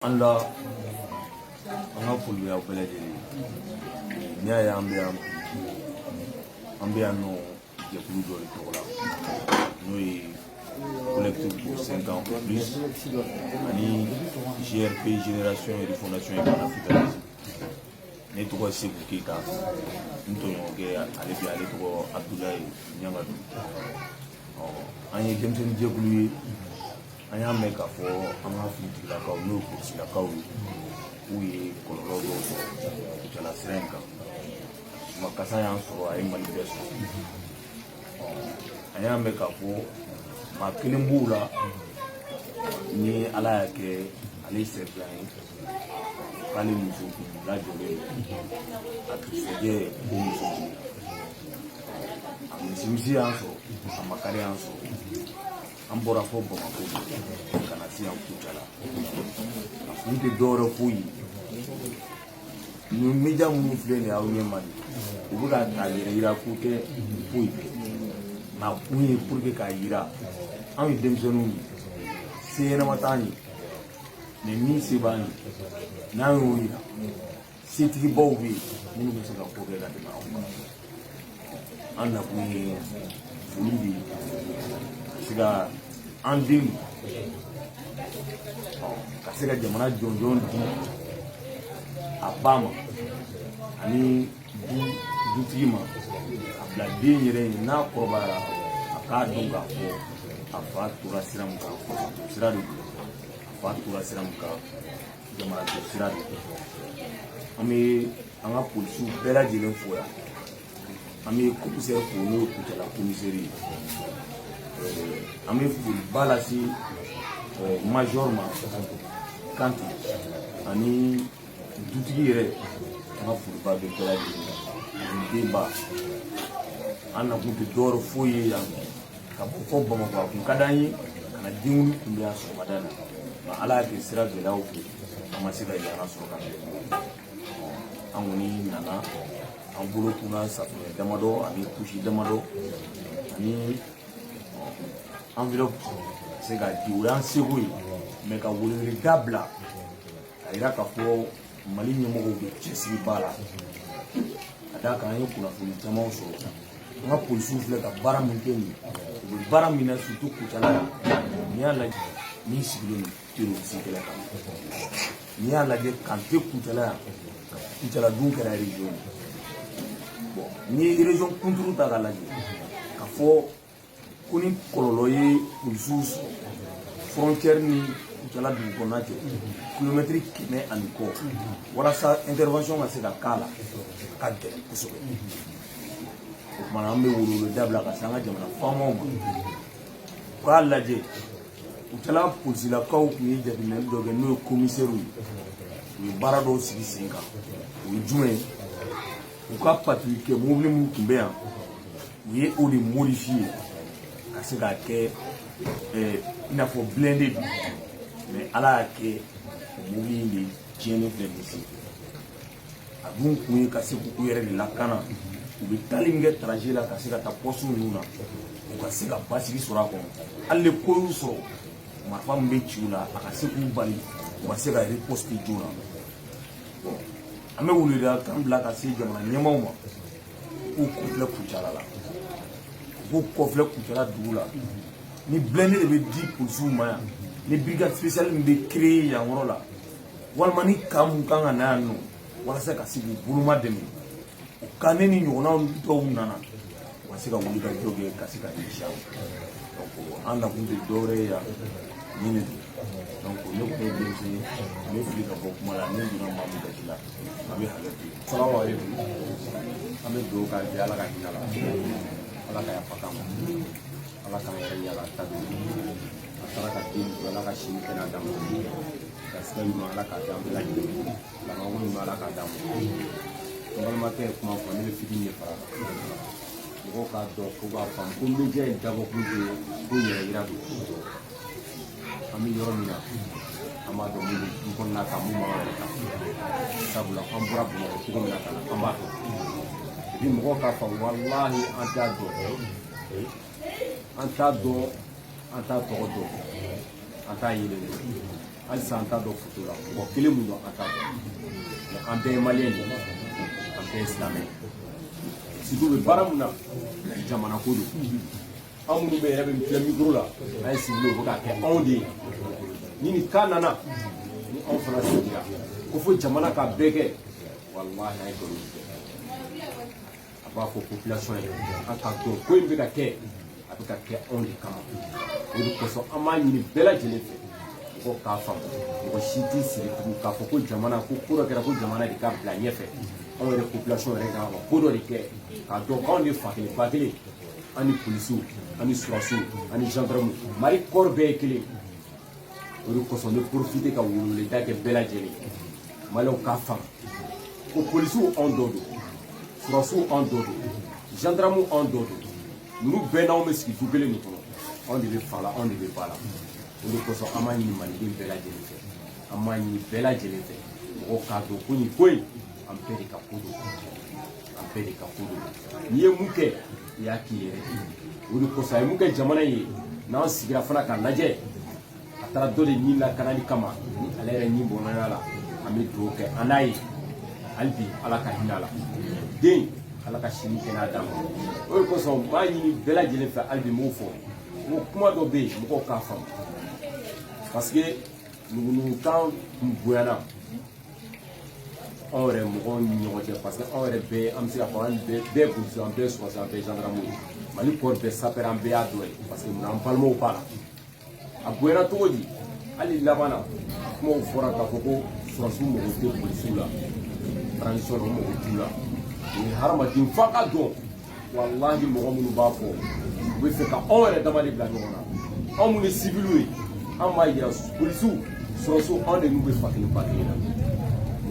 An la an ka foli b'a bɛɛ lajɛlen n'i y'a ye an bɛ yan an bɛ yan nɔ jɛkulu dɔ de tɔgɔ la n'o ye collectif pour 5 ans ou plus ani GRP Génération et Refondation et Panafricanisme ne tɔgɔ ye Seku Keyita n tɔɲɔgɔnkɛ ale bɛ ale tɔgɔ Abdoulaye Ɲangadu an ye denmisɛnnin jɛkulu ye an y'a mɛn k'a fɔ an ka finitigilakaw n'o ye polisilakaw ye k'u ye kɔlɔlɔ dɔw sɔrɔ kucala sira in kan ma kasa y'an sɔrɔ a ye mali bɛɛ sɔrɔ an y'a mɛn k'a fɔ maa kelen b'u la ni ala y'a kɛ ale ye sɛbila ye k'ale muso kun lajɔlen a dugusɛjɛ ko muso kun a misimisi y'an sɔrɔ a makari y'an sɔrɔ an bɔra fɔ bamakɔ ka na se yan kucala a kun tɛ dɔwɛrɛ foyi ye nin media minnu filɛ nin ye aw ɲɛ ma de u bɛ ka a yɛrɛ yira ko tɛ foyi tɛ nka a kun ye pour que k'a yira anw ye denmisɛnninw ye se ɲɛnama t'an ye mais min se b'an ye n'an y'o yira setigibaw bɛ yen minnu bɛ se ka ko kɛ ka tɛmɛ anw kan an nakun ye foli de ye ka se ka an den ka se ka jamana jɔnjɔn di a ba ma ani dutigi ma a bila den yɛrɛ ye n'a kɔrɔbayara a k'a dɔn k'a fɔ a fa tora sira min kan sira de don a fa tora sira min kan jamana jɔ sira de don an bɛ an ka polisiw bɛɛ lajɛlen fo yan an bɛ komisɛri fo n'o ye kucala komisɛri ye an bɛ foliba lase major ma kante ani dutigi yɛrɛ an ka foliba bɛ bɛɛ lajɛlen na ani denba an nakun tɛ dɔwɛrɛ foyi ye yan ka bɔ fɔ bamakɔ a kun ka d'an ye ka na denwuli kunbɛn yan sɔgɔmada na nka ala y'a kɛ sira gɛlɛyaw fɛ an ma se ka yan sɔrɔ ka bɛn an kɔni nana an bolo kunna safunɛ damadɔ ani kusi damadɔ ani enveloppe se ka di o y'an seko ye mais ka weleweleda bila a yira k'a fɔ mali ɲɛmɔgɔw bɛ cɛsiriba la ka d'a kan an ye kunnafoni camanw sɔrɔ an ka polisiw filɛ ka baara min kɛ nin u bɛ baara min na surtout kucala yan n'i y'a lajɛ min sigilen don terroriste kɛlɛ kan n'i y'a lajɛ kante kucala yan kucala dun kɛra région ye bon n'i ye région kunturu ta k'a lajɛ ka fɔ ko ni kɔlɔlɔ ye polisiw sɔrɔ frontière ni kucala dugu kɔnɔna cɛ kilomɛtiri kɛmɛ ani kɔ walasa intervention ka se ka k'a la ka gɛlɛn kosɛbɛ o kumana an bɛ weleweleda bila ka se an ka jamana faamaw ma u k'a lajɛ kucala polisilakaw tun ye jateminɛli dɔ kɛ n'o ye komisɛriw ye u ye baara dɔw sigi sen kan o ye jumɛn ye u ka patrouille kɛ mobili minnu tun bɛ yan u ye o de modifiye ka se k'a kɛ eh, i n'a fɔ blende de mɛ ala y'a kɛ o mobili in de tiɲɛnen filɛ nin sen a dun kun ye ka se k'u yɛrɛ de lakana u bɛ taali min kɛ taraje la ka se ka taa pɔsu ninnu na u ka se ka basigi sɔrɔ a kɔnɔ hali ni ko y'u sɔrɔ marifa min bɛ ci u la a ka se k'u bali u ka se ka riposte joona an bɛ weleweleda kan bila ka se jamana ɲɛmaaw ma k'u kɔfilɛ kucala la u k'u kɔfilɛ kucala dugu la ni blende de bɛ di polisiw ma yan ni brigade spéciale min bɛ créer yan yɔrɔ la walima ni kan mun kan ka na yan nɔ walasa ka se k'u bolomadɛmɛ au cas ni nin ɲɔgɔnnaw dɔw nana u ka se ka wuli ka jɔ kɛ ka se ka ɲɛsin a ma donc an nakun tɛ dɔwɛrɛ ye yan nin de don donc ne kun ye denmisɛn ye n bɛ fili ka bɔ kuma la ne donna maa min gasi la a bɛ hakɛ to n ye salamu aleykum an bɛ dugawu k'a ye ala ka hinɛ a la ala ka yafa k'a ma ala k'an yɛrɛ yala ta don a taara ka den to ala ka si ni kɛnɛya d'a ma garisɛgɛ ɲuman ala k'a di an bɛɛ lajɛlen labanko ɲuman ala k'a d'an ma n balimakɛ ye kuma fɔ ne bɛ fitini de fara mɔgɔw k'a dɔn ko k'a faamu ko media in dabɔkun de ye ko yɛrɛ yira don an bɛ yɔrɔ min na an b'a dɔn mun bɛ du kɔnɔna kan mun b'an yɛrɛ kan sabula an bɔra bamakɔ cogo min na ka na an b'a dɔn ni mɔgɔw k'a faamu walahi an t'a dɔn an t'a dɔn an t'a tɔgɔ dɔn an t'a yelen dɔn halisa an t'a dɔn foto la mɔgɔ kelen mun don an t'a dɔn mɛ an bɛɛ ye maliyɛn de ye an bɛɛ ye silamɛ ye surtout u bɛ baara mun na jamana ko don anw minnu bɛ yɛrɛ bɛ filɛ mikoro la an ye sigi o bɛ k'a kɛ anw de ye ni nin kan nana ni anw fana sigira ko fo jamana ka bɛɛ kɛ walahi an ye nkalon tigɛ a b'a fɔ population ye an k'a dɔn ko in bɛ ka kɛ a bɛ ka kɛ anw de kama o de kosɔn an b'a ɲini bɛɛ lajɛlen fɛ mɔgɔw k'a faamu mɔgɔ si t'i sigi tugun k'a fɔ ko jamana ko ko dɔ kɛra ko jamana de ka bila ɲɛfɛ anw yɛrɛ population yɛrɛ kan ka ko dɔ de kɛ k'a dɔn k'anw de fa kelen ba kelen ani polisiw ani sɔrɔsiw ani gendarmew mali kɔɔri bɛɛ ye kelen o de kosɔn ne porofite ka weleweleda kɛ bɛɛ lajɛlen maliyɛw k'a faamu ko polisiw anw dɔ don sɔrɔsiw anw dɔ don gendarmew anw dɔ don ninnu bɛɛ n'anw bɛ sigi du kelen nin kɔnɔ anw de bɛ fa la anw de bɛ ba la o de kosɔn an b'a ɲini maliden bɛɛ lajɛlen fɛ an b'a ɲini bɛɛ lajɛlen fɛ mɔgɔw k'a dɔn ko nin ko in an bɛɛ de ka ko don an bɛɛ de ka ko don n'i ye mun kɛ i y'a k'i yɛrɛ o de kosɔn a ye mun kɛ jamana ye n'an sigira fana k'a lajɛ a taara dɔ de nin lakanali kama ni ale yɛrɛ nin bɔnɔna a la an bɛ dugawu kɛ an n'a ye hali bi ala ka hinɛ a la den ala ka si ni kɛnɛya d'a ma o de kosɔn n b'a ɲini bɛɛ lajɛlen fɛ hali bi n b'o fɔ n ko kuma dɔ bɛ yen mɔgɔw k'a faamu parce que nugunugukan kun bonyana anw yɛrɛ mɔgɔw ni ɲɔgɔn cɛ parce que anw yɛrɛ bɛɛ an bɛ se k'a fɔ an bɛɛ polisi an bɛɛ sɔrɔsi an bɛɛ zandarmu ye mali kɔɔri bɛɛ sapɛrɛ an bɛɛ y'a dɔ ye parce que munna an balimaw b'a la a goyara cogo di hali laban na kumaw fɔra k'a fɔ ko sɔrɔsiw mago tɛ polisiw la transition na u mago t'u la o ye hadamaden f'a k'a dɔn walahi mɔgɔ minnu b'a fɔ u bɛ fɛ ka anw yɛrɛ dama de bila ɲɔgɔn na anw minnu ye siviliw ye anw b'a yira polisiw sɔrɔsiw anw de n'u bɛ fa kelen ba kelen na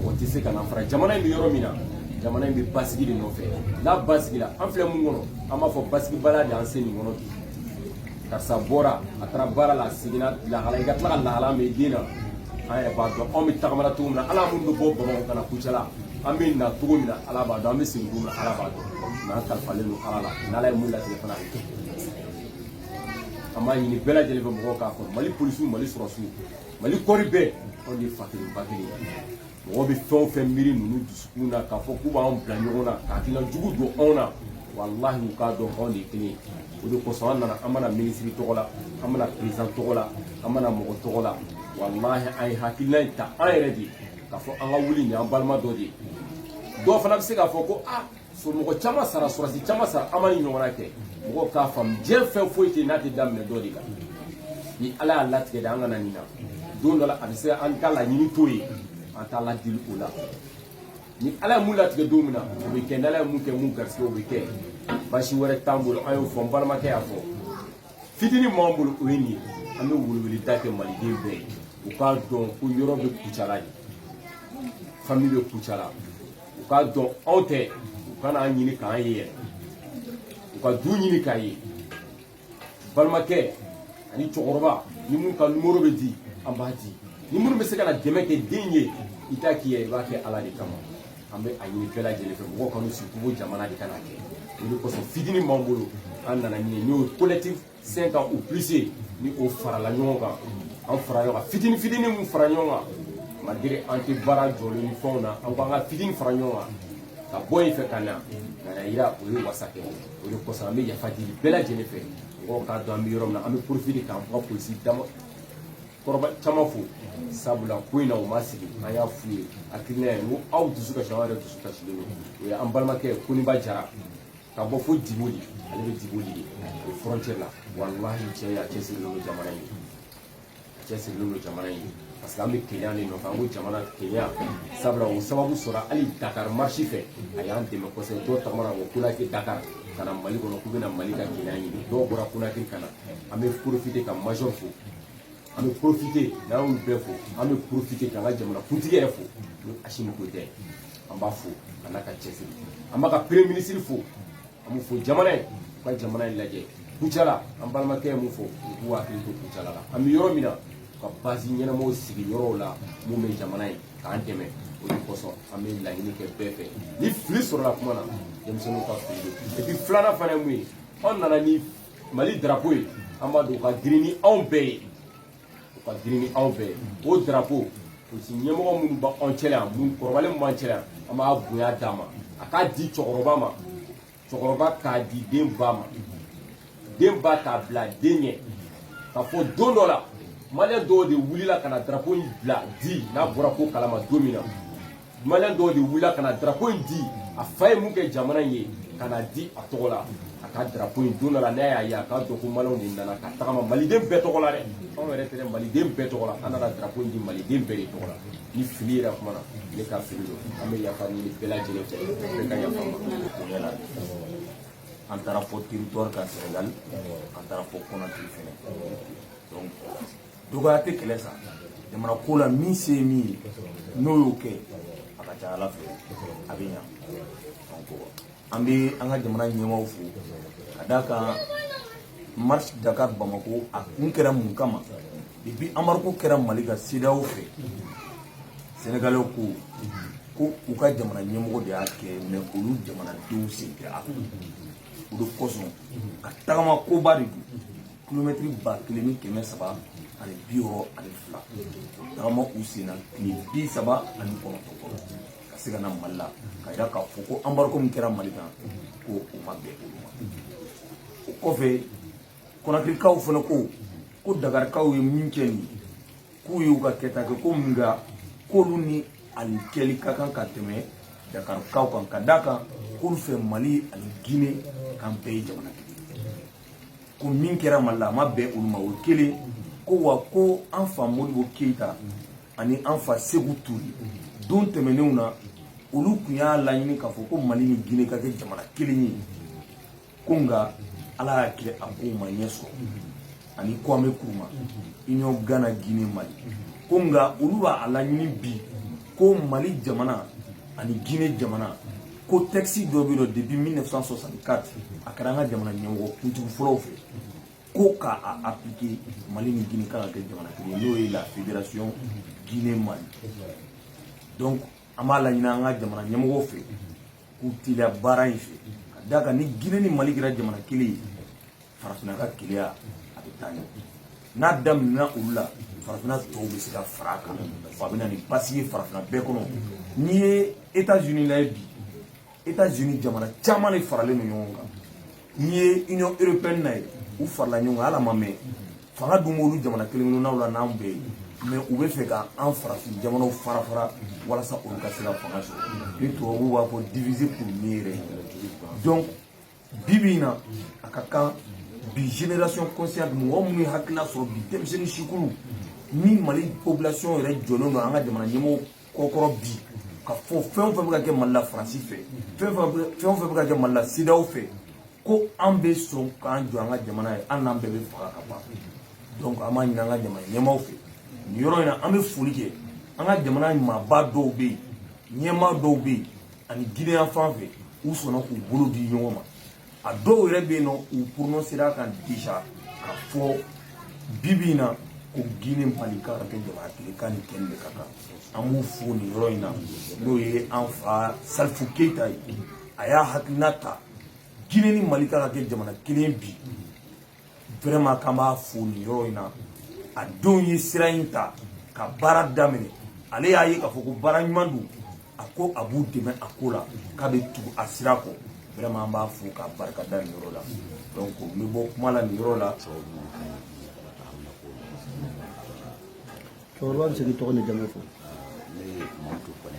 mɔgɔ tɛ se ka n'an fara jamana in bɛ yɔrɔ min na jamana in bɛ basigi de nɔfɛ n'a basigila an filɛ mun kɔnɔ an b'a fɔ basigibaliya de y'an se nin kɔnɔ bi karisa bɔra a taara baara la a seginna lahala i ka tila ka lahala min i den na an yɛrɛ b'a dɔn anw bɛ tagama na cogo min na ala minnu bɛ bɔ bamakɔ ka na kucala an bɛ na cogo min na ala b'a dɔn an bɛ segin cogo min na ala b'a dɔn nka an kalifalen don ala la n'ala ye mun latigɛ fana a bɛ kɛ an b'a ɲini bɛɛ lajɛlen fɛ mɔgɔw k'a dɔn ko mali polisiw mali sɔrɔsiw mali kɔɔri bɛɛ anw de ye fa kelen ba kelen ye mɔgɔ bɛ fɛn o fɛn miiri ninnu dusukun na k'a fɔ k'u b'an bila ɲɔgɔn na ka hakilina jugu don anw na walahi u k'a dɔn anw de ye kelen ye o de kosɔn an nana an ma na minisiri tɔgɔ la an ma na peresidan tɔgɔ la an ma na mɔgɔ tɔgɔ la walahi an ye hakilina in ta an yɛrɛ de ye k'a fɔ an ka wuli nin an balima dɔ de ye dɔw fana bɛ se k'a fɔ ko a somɔgɔ caman sara sɔrɔsi caman sara an ma nin ɲɔgɔnna kɛ mɔgɔw k'a faamu diɲɛ fɛn foyi tɛ n'a tɛ daminɛ dɔ de la ni ala y'a latigɛ de an ka na nin na don dɔ la a bɛ se an ka laɲini to yen an t'a ladili o la ni ala ye mun latigɛ don min na o bɛ kɛ ni ala ye mun kɛ mun garisɛgɛ o bɛ kɛ basi wɛrɛ t'an bolo an y'o fɔ n balimakɛ y'a fɔ fitinin min b'an bolo o ye nin ye an bɛ weleweleda kɛ maliden bɛɛ ye u k'a dɔn ko yɔrɔ bɛ kucala de fami bɛ kucala u k'a dɔn anw tɛ u kana an ɲini k'an ye yɛrɛ u ka du ɲini k'a ye balimakɛ ani cɛkɔrɔba ni mun ka numero bɛ di an b'a di ni minnu bɛ se ka na dɛmɛ kɛ den ye i t'a k'i yɛrɛ i b'a kɛ ala de kama an bɛ a ɲini bɛɛ lajɛlen fɛ mɔgɔw kan'u sigi ko jamana de ka n'a kɛ o de kosɔn fitinin b'an bolo an nana min ye n'o ye collectif cinq ans ou plus ni o farala ɲɔgɔn kan an fara ɲɔgɔn kan fitini fitini min fara ɲɔgɔn kan malgré an tɛ baara jɔlen ni fɛnw na an ko an ka fitini fara ɲɔgɔn kan ka bɔ yen fɛ ka na k'a yira o ye wasa kɛ o de kosɔn an bɛ yafa deli bɛɛ lajɛlen fɛ mɔgɔw k'a dɔn an bɛ yɔrɔ min na an bɛ profite k'an ka polisi dama kɔrɔba caman fo sabula ko in na u ma sigi an y'a f'u ye hakilina ye n ko aw dusu kasi an yɛrɛ dusu kasilen don o ye an balimakɛ koniba jara ka bɔ fo diboli ale bɛ diboli de o frontière la walahi cɛ a cɛsirilen don jamana in a cɛsirilen don jamana in parce que an bɛ keleya de nɔfɛ an ko jamana keleya sabula o sababu sɔrɔ hali dakar marche fɛ a y'an dɛmɛ kosɛbɛ dɔw tagamana ko konakiri dakar ka na mali kɔnɔ k'u bɛna mali ka keleya ɲini dɔw bɔra konakiri ka na an bɛ profite ka major fo an bɛ profite n'an y'olu bɛɛ fo an bɛ profite k'an ka jamana kuntigi yɛrɛ fo ni asimi goyita ye an b'a fo a n'a ka cɛsiri an b'a ka premier ministre fo an b'u fo jamana ye u ka jamana in lajɛ kucala an balimakɛ ye mun fɔ u k'u hakili to kucala la an bɛ yɔrɔ min na u ka base ɲɛnamaw sigi yɔrɔw la mun bɛ jamana ye k'an dɛmɛ o de kosɔn an bɛ laɲini kɛ bɛɛ fɛ ni fili sɔrɔla kuma na denmisɛnninw ka fili don et puis filanan fana ye mun ye anw nana ni mali drapo ye an b'a dɔn o ka girin ni anw bɛɛ ye o ka girin ni anw bɛɛ ye o drapo polisi ɲɛmɔgɔ minnu bɛ anw cɛla yan minnu kɔrɔbalen min b'an cɛla yan an b'a bonya d'a ma a k'a di cɛkɔrɔba ma cɛkɔrɔba k'a di den ba ma den ba k'a bila den ɲɛ k'a fɔ don dɔ la maliyɛn dɔw de wulila ka na drapo in bila di n'a bɔra ko kalama don min na maliyɛn dɔw de wulila ka na drapo in di a fa ye mun kɛ jamana in ye ka na di a tɔgɔ la a ka drapo in don dɔ la n'a y'a ye a k'a dɔn ko maliyɛnw de nana ka tagama maliden bɛɛ tɔgɔ la dɛ anw yɛrɛ tɛ dɛ maliden bɛɛ tɔgɔ la an nana drapo in di maliden bɛɛ de tɔgɔ la ni fili yera kuma na ne ka fili don an bɛ yafa ɲini bɛɛ lajɛlen fɛ bɛɛ ka yafa ma bonya la an taara fɔ territoire kan Sénégal an taara fɔ Conakry fɛnɛ donc dɔgɔya tɛ kɛlɛ sa jamana ko la min se ye min ye n'o y'o kɛ a ka ca ala fɛ a bɛ ɲa donc an bɛ an ka jamana ɲɛmaaw fo ka d'a kan marche dakar bamako a kun kɛra mun kama depuis embargo kɛra mali kan CEDEAO fɛ Sénégalais ko ko u ka jamana ɲɛmɔgɔ de y'a kɛ mais olu jamanadenw sen tɛ a o de kosɔn ka tagama koba de don kilomɛtiri ba kelen ni kɛmɛ saba ani bi wɔɔrɔ ani fila tagama u senna tile bi saba ani kɔnɔntɔn kɔnɔ ka se ka na mali la k'a yira k'a fɔ ko embargo min kɛra mali kan ko o ma bɛn olu ma o kɔfɛ konakirikaw fana ko ko dakarikaw ye min kɛ nin k'u y'u ka kɛta kɛ ko nka k'olu ni nin kɛli ka kan ka tɛmɛ dakarikaw kan ka d'a kan k'olu fɛ mali ani gine k'an bɛɛ ye jamana kelen ko min kɛra mali la a ma bɛn olu ma o kelen ko wa ko an fa modibo keyita ani an fa seku ture don tɛmɛnenw na olu tun y'a laɲini k'a fɔ ko mali ni gine ka kɛ jamana kelen ye ko nka ala y'a kɛ a kow ma ɲɛ sɔrɔ ani kwame kuruma union gana gine mali ko nka olu b'a laɲini bi ko mali jamana ani gine jamana ko tɛkisi dɔ bɛ dɔ depuis 1964 a kɛra an ka jamana ɲɛmɔgɔ kuntigi fɔlɔw fɛ ko ka a appliquer mali ni guinée k'an ka kɛ jamana kelen n'o ye la fédération guinée mali donc an b'a laɲini an ka jamana ɲɛmɔgɔw fɛ k'u teliya baara in fɛ ka d'a kan ni guinée ni mali kɛra jamana kelen ye farafinna ka kelenya a bɛ taa ɲɛ n'a daminɛna olu la farafinna tɔw bɛ se ka fara a kan wa a bɛ na ni basi ye farafinna bɛɛ kɔnɔ n'i ye etats unis lajɛ bi etats unis jamana caman de faralen don ɲɔgɔn kan n'i ye union européenne lajɛ u farala ɲɔgɔn kan hali a ma mɛn fanga dun b'olu jamana kelen kelennaw la n'an bɛɛ ye mais u b'a fɛ ka an farafin jamanaw fara fara walasa olu ka se ka fanga sɔrɔ ni tubabuw b'a fɔ diviser pour mieux régner donc bi bi in na a ka kan bi génération consciente mɔgɔ minnu ye hakilila sɔrɔ bi denmisɛnnin sikulu ni mali population yɛrɛ jɔlen don an ka jamana ɲɛmɔgɔ kɔkɔrɔ bi k'a fɔ fɛn o fɛn bɛ ka kɛ mali la faransi fɛ fɛn o fɛn bɛ ka kɛ mali la cedeao fɛ ko an bɛ sɔn k'an jɔ an ka jamana ye hali n'an bɛɛ bɛ faga ka ban donc an b'a ɲini an ka jamana ɲɛmaaw fɛ nin yɔrɔ in na an bɛ foli kɛ an ka jamana maaba dɔw bɛ yen ɲɛmaa dɔw bɛ yen ani gine yan fan fɛ u sɔnna k'u bolo di ɲɔgɔn ma a dɔw yɛrɛ bɛ yen nɔ u prononcera kan déjà k'a fɔ bi bi in na ko gine mali ka ka kɛ jamana kelen ka nin kɛli de ka kan an b'u fo nin yɔrɔ in na n'o ye an fa salifu keyita ye a y'a hakilina ta gine ni mali ka ka kɛ jamana kelen bi vraiment k'an b'a fo nin yɔrɔ in na a denw ye sira in ta ka baara daminɛ ale y'a ye k'a fɔ ko baara ɲuman don a ko a b'u dɛmɛ a ko la k'a bɛ tugu a sira kɔ vraiment an b'a fo k'a barika da nin yɔrɔ la donc n bɛ bɔ kuma la nin yɔrɔ la cɛkɔrɔba bɛ se k'i tɔgɔ ni jamu fɔ ne ye mamadu kɔnɛ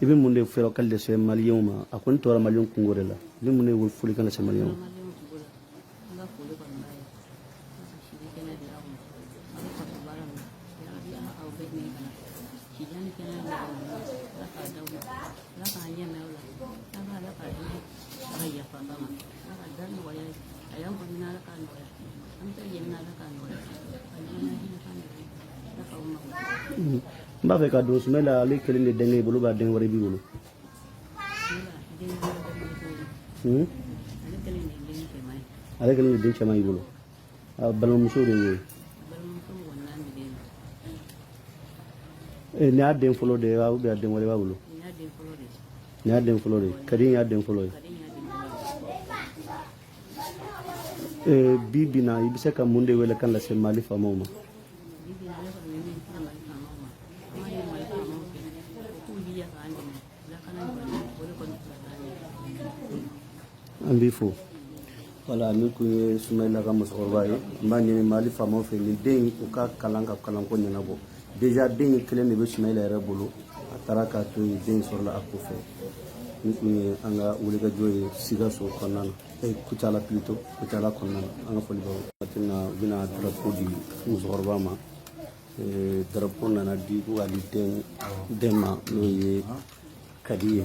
i bɛ mun de fɛɛrɛ ka lase maliyɛnw ma a kɔni tora maliyɛnw kunko de la i bɛ mun de foli kan lase maliyɛnw ma Mm-hmm. n b'a fɛ k'a dɔn sumayila ale kelen de denkɛ i bolo wa den wɛrɛ b'i bolo hmm? ale kelen de den cɛman y'i bolo balimamuso de ye eh, nin y'a den fɔlɔ de ye wa ubiyɛn a den wɛrɛ b'a bolo nin y'a den fɔlɔ de ye kadi in y'a den fɔlɔ ye eh, bi bi na i bɛ se ka mun de wele kan lase mali faamaw ma an b'i fo wala nin kun ye sumayila ka musokɔrɔba ye n b'a ɲini mali faamaw fɛ nin den u ka kalan ka kalanko ɲɛnabɔ deja den in kelen de bɛ sumayila yɛrɛ bolo a taara k'a to yen den sɔrɔla a kɔfɛ nin kun ye an ka wulikajɔ ye sikaso kɔnɔna na kucala pilito kucala kɔnɔna na an ka foli b'aw watina u bɛna darapo di musokɔrɔba ma darapo nana di ko k'a di den ma n'o ye kadi ye